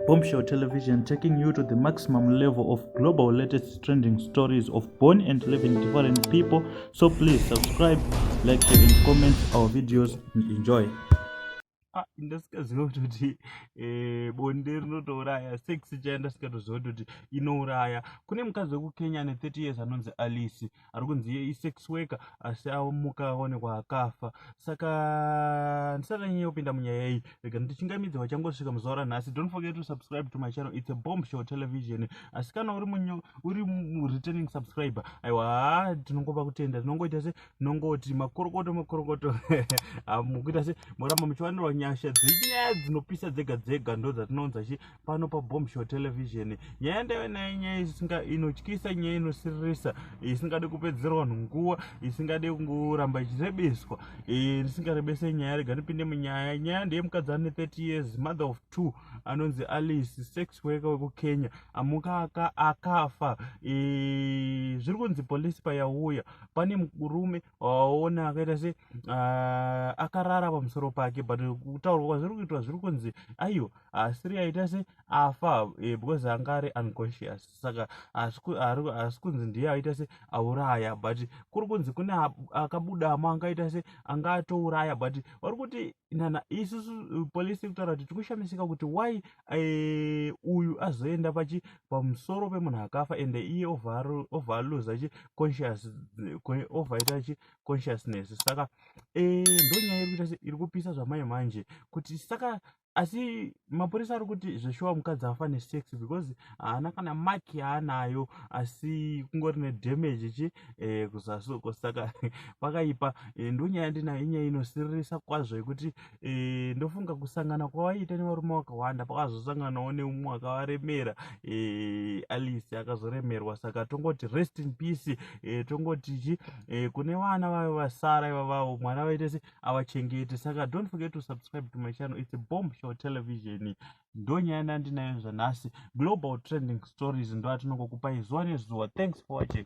Bombshell Television taking you to the maximum level of global latest trending stories of born and living different people. So please subscribe, like, share, and comment our videos and enjoy. Ah, ndasikaziva kutoti eh, bonde rinotouraya sex chaya ndasingatoziva kutoti inouraya kune mukadzi wekukenya ane 30 years anonzi alice ari kunzi iye isex worker asi amuka aonekwa akafa saka ndisati anyanya kupinda munyaya iyi rega ndichingamidze vachangosvika muzuva ranhasi don't forget to subscribe to my channel it's a bomb show television asi kana uri munyo uri returning subscriber aiwa tinongopa kutenda tinongoita se tinongoti makorokoto makorokoto mukuita se moramba muchiwanirwa nyasha dzenyaya dzinopisa dzega dzega ndo dzatinounza chi pano pabombshore television nyaya ndaive nayo nyaya isinga inotyisa nyaya inosiririsa isingade kupedzera vanhu nguva isingade kungoramba ichirebeswa e, ndisingarebese nyaya rega ndipinde munyaya nyaya ndeye mukadzi ane 30 years mother of two anonzi alice sex worker wekukenya amuka akafa e, zviri kunzi polisi payauya pane murume waona akaita se uh, akarara pamusoro pake but kutaurwa kwazviri kuitwa zviri kunzi aiyo asiri ah, aita se afa eh, because anga ari unconscious saka asi kunzi ndiye aita se auraya but kuri kunzi kune akabudamo angaita se anga atouraya but vari kuti nana isusu polisi kutaura kuti tikushamisika kuti why uyu azoenda pachi pamusoro pemunhu akafa ende iye ovaluza chi conscious ovaita chi consciousness saka eh, ndonyaya iri kuita iri kupisa zvamai manje kuti saka asi mapurisa ari kuti zveshuwa mukadzi afa nesex because haana kana maki yaanayo asi kungori nedamage chi eh, kuzasuko saka pakaipa eh, ndonyaya ndinayo inyaya inosiririsa kwazvo yekuti e, ndofunga kusangana kwawaiita nevarume wakawanda pakazosanganawo neumwe wakavaremera e, eh, alice akazoremerwa saka tongoti rest in peace e, tongoti chi e, kune vana vayo vasara ivavavo mwana vaite se avachengete saka don't forget to subscribe to my channel its a bomb show television ndonyaya ndandinayo zvanhasi global trending stories ndoatinongokupai zuva nezuva thanks for watching